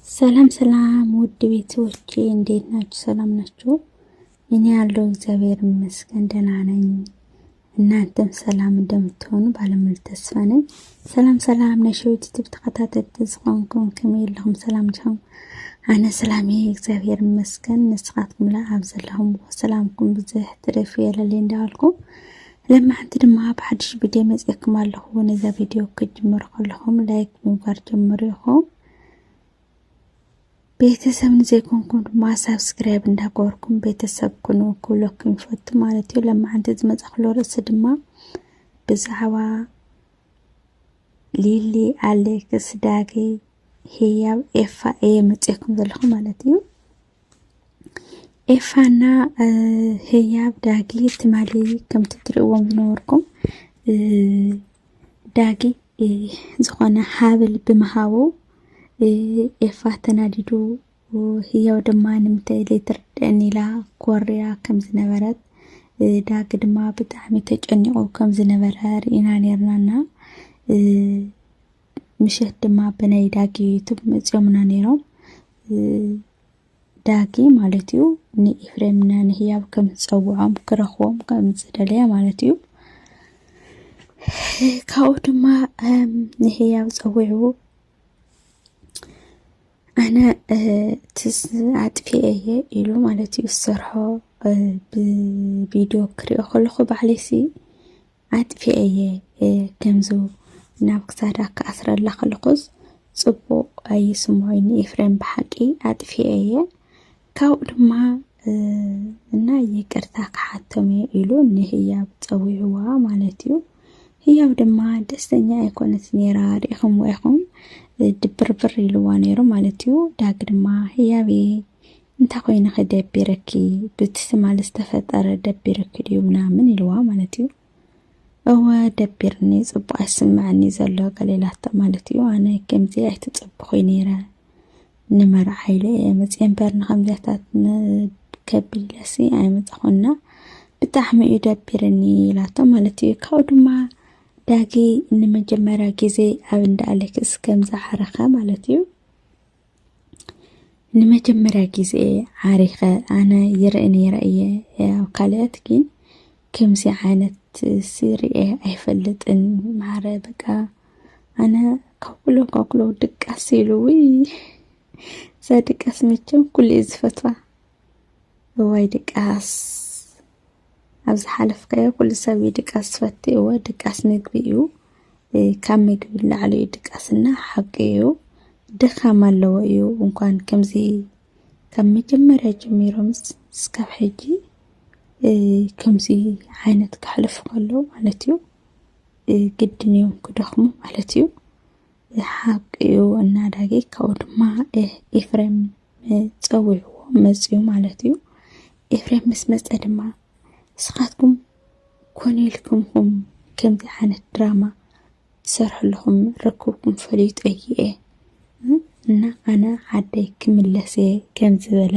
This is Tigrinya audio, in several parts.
ሰላም ሰላም ውድ ቤተሰቦቼ እንዴት ናችሁ? ሰላም ናችሁ? እኔ ያለው እግዚአብሔር ይመስገን ደህና ነኝ። እናንተም ሰላም እንደምትሆኑ ባለሙሉ ተስፋ ነኝ። ሰላም ሰላም ናይ ሸዊት ዩቲብ ተኸታተልቲ ዝኾንኩም ከመይ ኣለኹም? ሰላም ዲኹም? ኣነ ሰላም እየ እግዚአብሔር ይመስገን። ንስኻትኩም ላ ኣብ ዘለኹም ሰላምኩም ብዝሕ ትረፍ የለለይ እንዳበልኩ ለማዓንቲ ድማ ብሓድሽ ቪድዮ መፅኤኩም ኣለኹ ነዛ ቪድዮ ክትጅምሩ ከለኹም ላይክ ብምግባር ጀምሩ ኢኹም ቤተሰብ ንዘይኮንኩም ድማ ሳብስክራይብ እንዳገበርኩም ቤተሰብ ኩኑ ክብለኩም ይፈቱ ማለት እዩ ለማዓንቲ ዝመፃክሎ ርእሲ ድማ ብዛዕባ ሊሊ ኣሌክስ ዳጊ ህያብ ኤፋ እየ መፅኤኩም ዘለኹ ማለት እዩ ኤፋና ህያብ ዳጊ ትማሊ ከምቲ ትርእዎም ዝነበርኩም ዳጊ ዝኾነ ሃብል ብምሃቡ ኤፋ ተናዲዱ ህያው ድማ ንምንታይ ዘይትርድአኒ ኢላ ኮርያ ከም ዝነበረት ዳጊ ድማ ብጣዕሚ ተጨኒቑ ከም ዝነበረ ርኢና ነርናና ምሸት ድማ ብናይ ዳጊ ዩቱብ መፂኦምና ነይሮም ዳጊ ማለት እዩ ንኤፍሬምና ንህያብ ከም ዝፀውዖም ክረኽቦም ከም ዝደለየ ማለት እዩ ካብኡ ድማ ንህያብ ፀዊዑ ኣነ ኣጥፊኤ እየ ኢሉ ማለት እዩ ዝሰርሖ ብቪድዮ ክሪኦ ከለኹ ባዕለይሲ ኣጥፊኤ'የ ከምዚ ናብ ክሳዳ ክኣስረላ ከለኹስ ጽቡቕ ኣይስምዖይን'ዩ ኤፍሬም ብሓቂ ኣጥፊኤ'የ ካብኡ ድማ እና ይቅርታ ክሓቶም እየ ኢሉ ንህያብ ጸዊዕዋ ማለት እዩ ህያብ ድማ ደስተኛ ኣይኮነት ነይራ ርኢኹምዎ ኢኹም ድብርብር ኢልዋ ነይሩ ማለት እዩ ዳግ ድማ ህያቤ እንታይ ኮይንኺ ደቢርኪ ብቲ ትማሊ ዝተፈጠረ ደቢርኪ ድዩ ምናምን ኢልዋ ማለት እዩ እወ ደቢርኒ ጽቡቅ ኣይስምዐኒ ዘሎ ገሌላቶ ማለት እዩ ኣነ ከምዚ ኣይትጽብኹይ ነይረ ንመርዓ ኢለ እየ መፅኤ እምበር ንከምዚያታት ከቢድ ኢለሲ ኣይመፃኹና ብጣዕሚ እዩ ደቢርኒ ኢላቶ ማለት እዩ ካብኡ ድማ ዳጊ ንመጀመርያ ግዜ ኣብ እንዳ ኣሌክስ ከም ዝዓረኸ ማለት እዩ ንመጀመርያ ግዜ ዓሪኸ ኣነ ይርኢ ነይረ እየ ኣብ ካልኦት ግን ከምዚ ዓይነት ስርኤ ኣይፈልጥን ማዕረ በቃ ኣነ ካኩሎ ካኩሎ ድቃስ ኢሉ ውይ እዛ ድቃስ መቸም ኩሉ እዩ ዝፈትዋ እዋይ ድቃስ ኣብ ዝሓለፍካዮ ኩሉ ሰብ እዩ ድቃስ ዝፈቲ እወ ድቃስ ምግቢ እዩ ካብ ምግቢ ላዕሊ እዩ ድቃስና ሓቂ እዩ ድኻም ኣለዎ እዩ እንኳን ከምዚ ካብ መጀመርያ ጀሚሮምስ እስካብ ሕጂ ከምዚ ዓይነት ከሕልፉ ከለዉ ማለት እዩ ግድን እዮም ክደኽሙ ማለት እዩ ሓቂዩ እና ዳጊ ካብኡ ድማ ኤፍሬም ፀዊዕዎ መፅዩ ማለት እዩ ኤፍሬም ምስ መፀ ድማ ንስኻትኩም ኮነ ኢልኩም ኹም ከምዚ ዓይነት ድራማ ትሰርሑ ኣለኹም ረክብኩም ፈሊጡ እየ እና ኣነ ዓደይ ክምለስ እየ ከም ዝበለ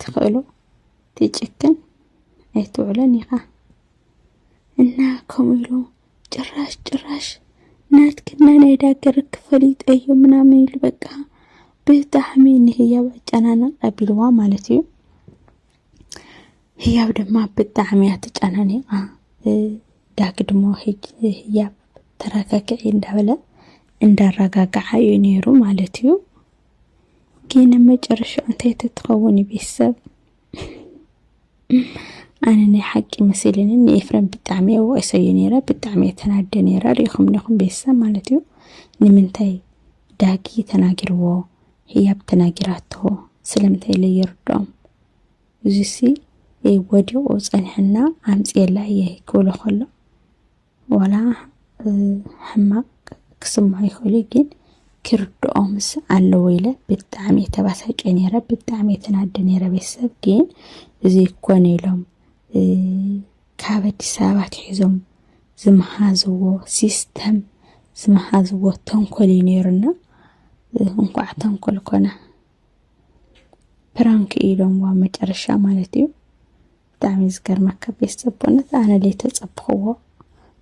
ትኽእሎ ትጭክን ኣይትውዕለን ኢኻ እና ከምኡ ኢሉ ጭራሽ ጭራሽ ናትክና ናይ ዳገር ክፈሊጥ እዮ ምናምን ኢሉ በቃ ብጣዕሚ ንህያብ ኣጨናንቕ ኣቢልዋ ማለት እዩ ህያብ ድማ ብጣዕሚ እያ ተጨናኒቓ ዳግ ድሞ ህያብ ተረጋግዒ እንዳበለ እንዳረጋግዓ እዩ ነይሩ ማለት እዩ ግን መጨረሻ እንታይ ተትኸውን እዩ ቤተሰብ ኣነ ናይ ሓቂ መሲልኒ ንኤፍረም ብጣዕሚ እየ ወቂሰዩ ነይረ ብጣዕሚ እየ ተናደ ነይረ ሪኢኹም ዲኹም ቤተሰብ ማለት እዩ ንምንታይ ዳጊ ተናጊርዎ ህያብ ተናጊራቶ ስለምንታይ ኢለ ይርድኦም እዙሲ ወዲቑ ፀኒሕና ኣምፅኤላ እየ ክብሎ ከሎ ዋላ ሕማቅ ክስምዖ ይክእሉ እዩ ግን ክርድኦምስ ኣለዎ ኢለ ብጣዕሚ እየ ተባሳጨ ነይረ ብጣዕሚ እየ ተናደ ነይረ ቤተሰብ ግን እዚ ኮነ ኢሎም ካብ ኣዲስ ኣበባ ትሒዞም ዝመሃዝዎ ሲስተም ዝመሃዝዎ ተንኮል እዩ ነይሩና እንኳዕ ተንኮል ኮነ ፕራንክ ኢሎምዋ መጨረሻ ማለት እዩ ብጣዕሚ እዩ ዝገርመካ ቤስት ዘቦነት ኣነ ለይ ተጸብኽዎ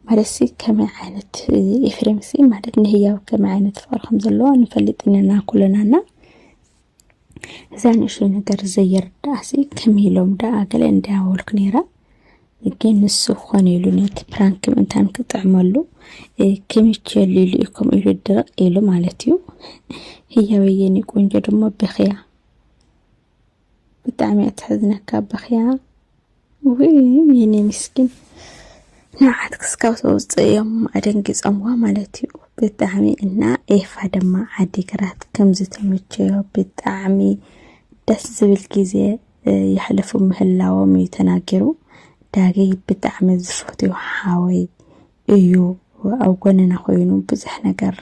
ማለትሲ ከመይ ዓይነት ኤፍሬምሲ ማለት ንህያብ ከመይ ዓይነት ፍቕሪ ከም ዘለዎ ንፈልጥ ኢና ኩለናና እዛ ንእሽተይ ነገር ዘየርዳእሲ ከመይ ኢሎም ደኣ ገለ እንዳበልኩ ነይረ ግን ንሱ ኾነ ኢሉ ነቲ ፕራንክ ምእንታን ክጥዕመሉ ክምቸሉ ኢሉ እዩ ከምኡ ኢሉ ድርቕ ኢሉ ማለት እዩ ህያበየኒ ቆንጆ ድማ ብኽያ ብጣዕሚ እያ ተሕዝነካ በኽያ ውይ የኔ ምስኪን ንዓት ክስካብ ተውፅእ እዮም ኣደንጊፆምዋ ማለት እዩ ብጣዕሚ እና ኤፋ ድማ ዓዲግራት ከምዚ ተመቸዮ ብጣዕሚ ደስ ዝብል ግዜ የሕልፉ ምህላዎም እዩ ተናጊሩ ዳገይ ብጣዕሚ ዝፈትዮ ሓወይ እዩ ኣብ ጎንና ኮይኑ ብዙሕ ነገር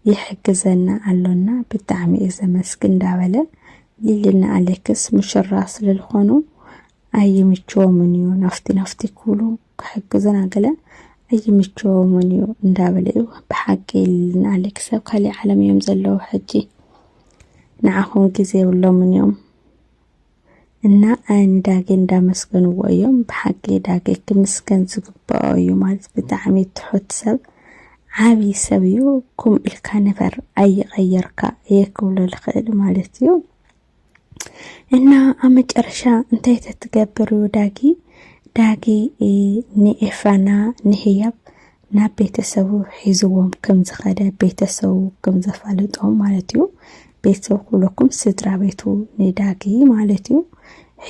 ይሕግዘና ኣሎና ብጣዕሚ እየ ዘመስግን እንዳበለ ሊሊና ኣሌክስ ሙሽራ ስለዝኾኑ ኣይምችዎምን እዩ ናፍቲ ናፍቲ ክብሉ ክሕግዙና ገለ ኣይምችዎምን እዩ እንዳበለ እዩ ብሓቂ ሊሊና ኣሌክስ ኣብ ካሊእ ዓለም እዮም ዘለዉ ሕጂ ንዓኹም ግዜ የብሎምን እዮም እና ንዳጌ እንዳመስገንዎ እዮም ብሓቂ ዳጌ ክምስገን ዝግበኦ እዩ ማለት ብጣዕሚ ትሑት ሰብ ዓቢ ሰብ እዩ ኩም ኢልካ ነበር ኣይቀየርካ እየ ክብሎ ልኽእል ማለት እዩ እና ኣብ መጨረሻ እንታይ ተትገብር እዩ ዳጊ ዳጊ ንኤፍራና ንህያብ ናብ ቤተሰቡ ሒዝዎም ከም ዝኸደ ቤተሰቡ ከም ዘፋለጦም ማለት እዩ። ቤተሰቡ ክብለኩም ስድራ ቤቱ ንዳጊ ማለት እዩ።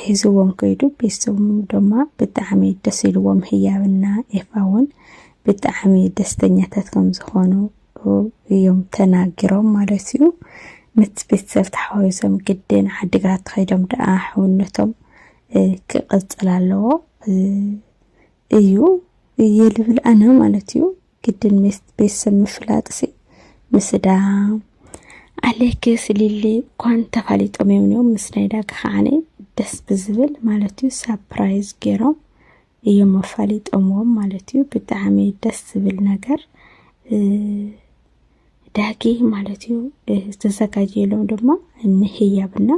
ሒዝዎም ከይዱ ቤተሰቡ ድማ ብጣዕሚ ደስ ኢልዎም ህያብና ኤፋ እውን ብጣዕሚ ደስተኛታት ከም ዝኾኑ እዮም ተናጊሮም ማለት እዩ ምስ ቤተሰብ ተሓዋዊሶም ግድን ዓዲግራት ተኸይዶም ደኣ ሕውነቶም ክቕፅል ኣለዎ እዩ እየ ልብል ኣነ ማለት እዩ ግድን ሜስ ቤተሰብ ምፍላጥሲ ምስዳም ኣሌክስ ሊሊ እኳን ተፋሊጦም እዮም እዮም ምስ ናይ ዳጊ ከዓኒ ደስ ብዝብል ማለት እዩ ሳፕራይዝ ገይሮም እዮም ኣፋሊጦምዎም ማለት እዩ ብጣዕሚ ደስ ዝብል ነገር ዳጊ ማለት እዩ ዝተዘጋጀየሎም ድማ ንህያብና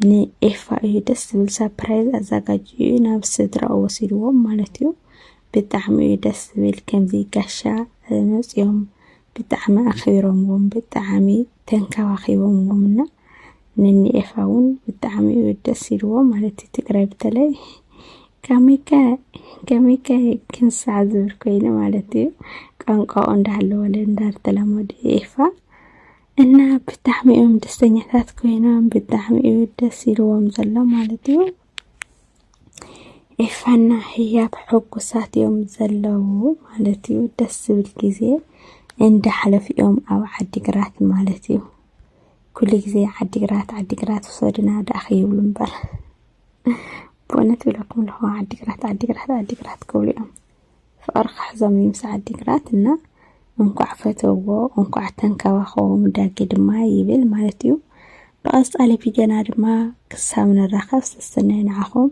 ንኤፋ እዩ ደስ ዝብል ሰፕራይዝ ኣዘጋጅዩ እዩ ናብ ስድራኡ ወሲድዎም ማለት እዩ ብጣዕሚ እዩ ደስ ዝብል ከምዚ ጋሻ መፅኦም ብጣዕሚ ኣኽቢሮምዎም ብጣዕሚ ተንከባኺቦምዎም እና ንኒኤፋ እውን ብጣዕሚ እዩ ደስ ኢልዎ ማለት እዩ ትግራይ በተለይ ከመይከ ከመይከ ክንሳዕ ዝብል ኮይኑ ማለት እዩ ቋንቋኡ እንዳሃለወለ እንዳተለመዱ ኤፋ እና ብጣዕሚ እዮም ደስተኛታት ኮይኖም ብጣዕሚ እዩ ደስ ኢልዎም ዘሎ ማለት እዩ ኤፋና ህያብ ሕጉሳት እዮም ዘለዉ ማለት እዩ ደስ ዝብል ግዜ እንዳሕለፉ እዮም ኣብ ዓዲግራት ማለት እዩ ኩሉ ግዜ ዓዲግራት ዓዲግራት ውሰዱና ደኣ ከይብሉ እምበር ብእውነት ይብለኩም ኣለኹ ዓዲግራት ዓዲግራት ዓዲግራት ክብሉ እዮም ፍቕሪ ክሕዞም እዩ ምስ ዓዲግራት እና እንኳዕ ፈተዎ እንኳዕ ተንከባኸቦም ዳጌ ድማ ይብል ማለት እዩ ብቐፃሊ ቪድዮና ድማ ክሳብ ንራኸብ ሰሰናዩ ንዓኹም